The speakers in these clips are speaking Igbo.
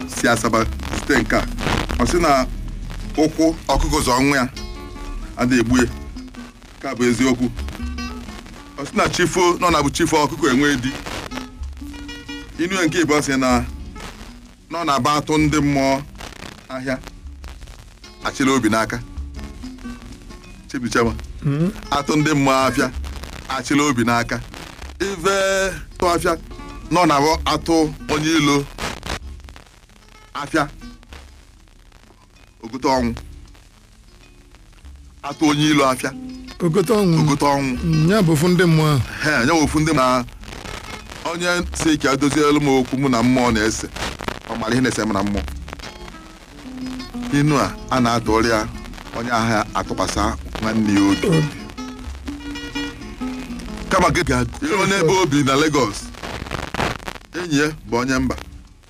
si asaba zite nke a ọ sị na ụkwụ ọkụkọ zọ nwa ya ada egbu ya ka bụ eziokwu ọ sị na chi fo na ọ na-abụ chi fo ọkụkọ enwe di inu ya nke ịbụọ sị na na ọ na-abụ atụ ndị mmụọ ahịa achịla obi n'aka chibichema atụ ndị mmụọ afịa achịla obi n'aka ive tụ afịa na ọ na-abụ atụ onye ilo afịa o gote ọnwụ atụ onye ilo afịa o gote ọnwụ o gote ọnwụ Mm, ya bụ ofu ndị mmụọ ahụ he anya ofu ndị na onye si ka edozielu m okwu mụ na mmụọ na-ese ọ mara ihe na-ese m na mmụọ inu a a na-atụrụ ya onye ahụ atụkwasị nwanne ya obi Obi. kama gị ga-eruo n'ebe o bi na Lagos enyi ya bụ onye mba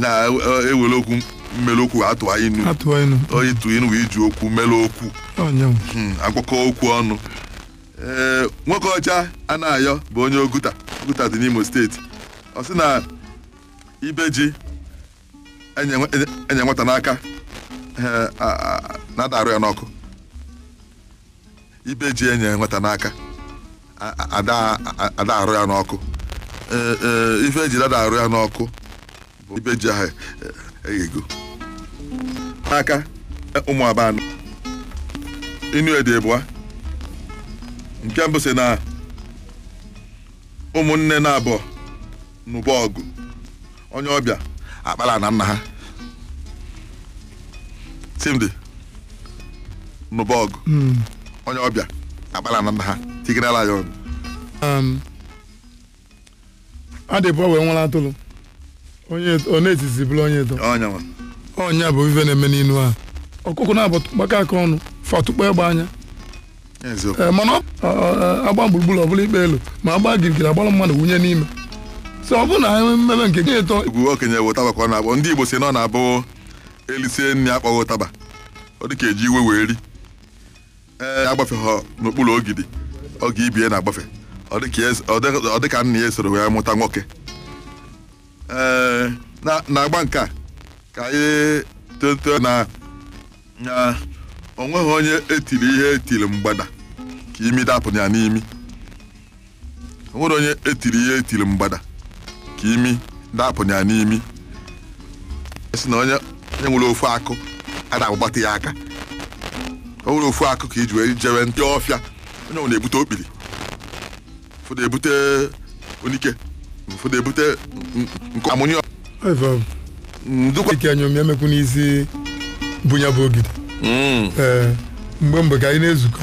na-ewere okwu mele okwu atụ inu ịtụ inu wee iji okwu mele okwu hmm, agwakọ okwu ọnụ ee eh, Nwokeọcha Anayọ bụ onye oguta oguta dị n'imo steeti ọ sị na ibe ji enye nwata n'aka eh, na ada arụ ya n'ọkụ ibe ji enye nwata n'aka a- a- ada a- ada arụ ya n'ọkụ Ee, ee, ife eji dada arụ ya n'ọkụ bụ ibe ji ahụ eghego n'aka ụmụ abanụ inu ede abụọ nke mbụ sị na ụmụnne naabọ nụba ọgụ onye ọbịa akpala ana nna ha simdi nụba ọgụ onye ọbịa akpala ana nna ha tigerela ya ọnụ Um, adịbọ wee nwere atụrụ onye nọ n'etiti bụrụ onye eto onye nwa ọ nya bụ ife na-eme n'inu a ọkụkọ naabọ gbakọ aka ọnụ fa atụkpọ egbe anya eziokwu Ee, mana ọ- ọ- ọ- agba gburugburu ọbụla ikpe elu ma agba girigiri agbara mmanụ wunye n'ime so ọ bụrụ na anyị mmebe nke gị eto egwu okenye bụ ụtaba ka ọ na-akpọ ndị igbo sị na ọ na-abụ elisie nri akpọghị ụtaba ọ dị ka eji iwe wee ri ee agbafeghọ n'okpuru ogidi oge ibe ya na-agbafe ọ dị ka ya es- ọ dị- ọ dị ka nna ya esoro wee mụta nwoke ee na- na-agba nke a ka anyị toto na na o nweghị onye etiri ihe etiri mgbada ka imi dapụ ya n'imi o nwere onye etiri ihe etiri mgbada ka imi dapụ ya n'imi si na onye onye nwere ofu akụ a na-agbata ya aka o nwere ofu akụ ka iji wee jewe ndị ọfịa onye ọwụna ebute okpiri ụfọdụ ebute onike ụfọdụ ebute nkụ a mụnye ndụkwa ike anya omi emekwu n'isi bụ ya bụ ogidi mgbe mgbe ka anyị na-ezukọ